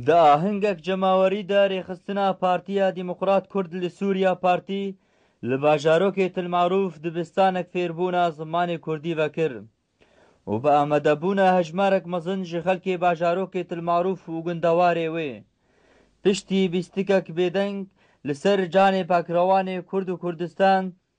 Di ahengek cemawerî de rêxistina Partiya Demokrat Kurd li Sûriya Partî li bajarokê Til Marûf dibistanek fêrbûna zimanê Kurdî vekir û bi amadebûna hejmarek mezin ji xelkê bajarokê Til Marûf û gundewarê wê piştî bîstikek bêdeng li ser canê pakrewanê Kurd û Kurdistan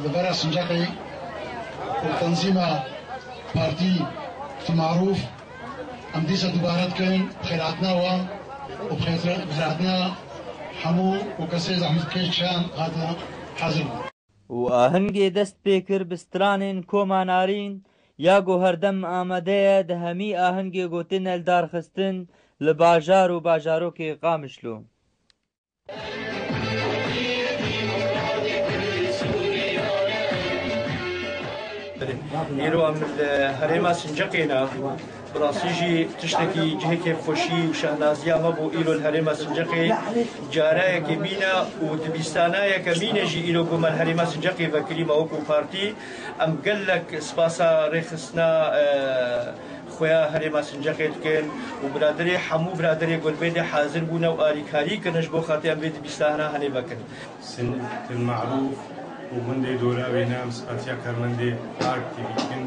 Li vera sincaqê ku tenzîma Partî Fî Marûf em dîsa dubare dikin, bi xêr hatina wan û bi xêr hatina hemû û kesê zehmetkêş çend hate hezir bû. Û ahengê dest pê kir bi stranên Koma Narîn ya ku herdem amade ye di hemî ahengê gotinel darxistin li bajar û bajarokê Qamişlo. Îro em li herêma Sincaqê ne. Bi rastî jî tiştekî cihê kêfxweşî û şehnaziya me bû. Îro li herêma Sincaqê careyekê mîne û di bîstanayeke mîne jî îro ku me li herêma Sincaqê vekirî me wekû partî. Em gelek spasa rêxistina Xuya Herêma Sincexê dikin û biraderê hemû biraderê Gulbêdê hazir bûne û alîkarî kirine ji bo xatirê em vê dibîstahna henê vekin. Sincek il Marûf û gundê dora wê ne em sipatiya karmendê Ark TV dikin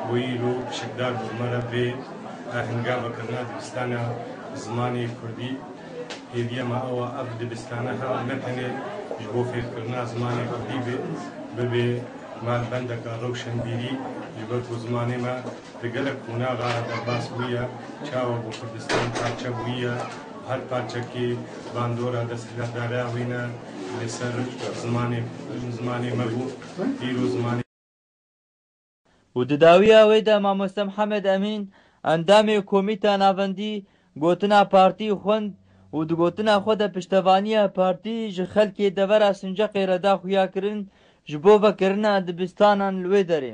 bo yî îro pişkdar bi me re vê ahinga vekirina dibîstana bi zimanê kurdî. Hêviya me ew a ev dibîstana hema ne tenê ji bo fêrkirina zimanê kurdî be, bibê malbendeka rewşenbîrî ji ber ku zimanê me, Di gelek qonaxa re derbas bûye, çawa bo Kurdistan parçe bûye û her parçekî bandora desthilatdareya wî ne li ser zimanê zimanê me bû. Îro zimanê. Û di dawiya wê de Mamoste Mihemed Emîn, endamê Komîta Navendî, gotina partî xwend û di gotina xwe de piştevaniya partî ji xelkê devera Sinceqê re da xuyakirin ji bo vekirina dibistanan li wê derê.